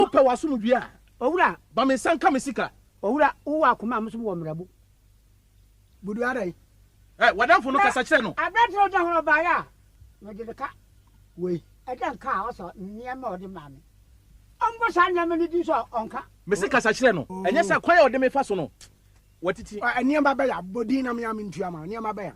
Wopɛ w'asomdwie a. Owura. Ba me nsa nka me sika. Owura, wowɔ akoma a mosom wɔ mmerɛbo. Budu adɛn? Ɛ, w'adamfo no kasa kyerɛ no. Na aberante a ɔda ho no baeɛ a, mede no ka. Wei. Ɛdɛn ka a ɔsɔ nneɛma a ɔde maa me? Ɔmmɔ saa nneɛma no din so a, ɔnka. Mese kasa kyerɛ no. Ɛnyɛ sɛ kwan a ɔde me fa so no, watiti. Nneɛma bɛn a? Bɔ din na me ara mentua ma wo. Nneɛma bɛn a?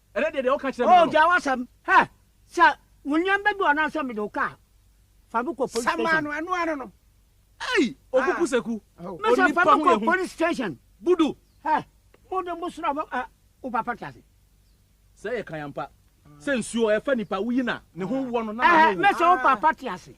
Ɛnɛ deɛ deɛ woka kyerɛ me no no. Ogyaa w'asɛm. Hɛ! Sɛ wo nneɛma bi wɔ anaasɛ mede wo ka a, fa me kɔ police station. Sama no, ɛno ara no. Ei! Oku Kuseku, onipa ho yɛ hu. Mese fa me kɔ police station. Budu! Hɛ! Mo de mo sra mo, ah, wo papa te ase. Sɛ ɛyɛ kan ampa. Sɛ nsuo, ɛfa nipa, woyi no a, ne ho wɔ no na n'ano nwu. Ɛhɛ! Mese wo papa te ase.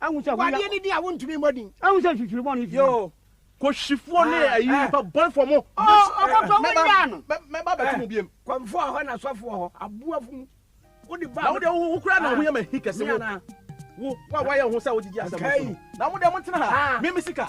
Wadeɛ no din a wontumi mmɔ din. Ahu sɛ mfifiri bɔne fi mu. Kɔhwifoɔ ne ayi nipa bɔnefoɔ mo. Ɔkɔtɔ mo nyaa no. Mɛba abɛto mo biam. Kɔmfoɔ a hɔ na sɔfoɔ hɔ aboafo mu. Wode ba. Na wode wo kura na ho yɛ ma hi kɛse wo. Wo wa wayɛ ho sɛ wodidi asɛm so. Na mo deɛ mo tena ha. Me me sika.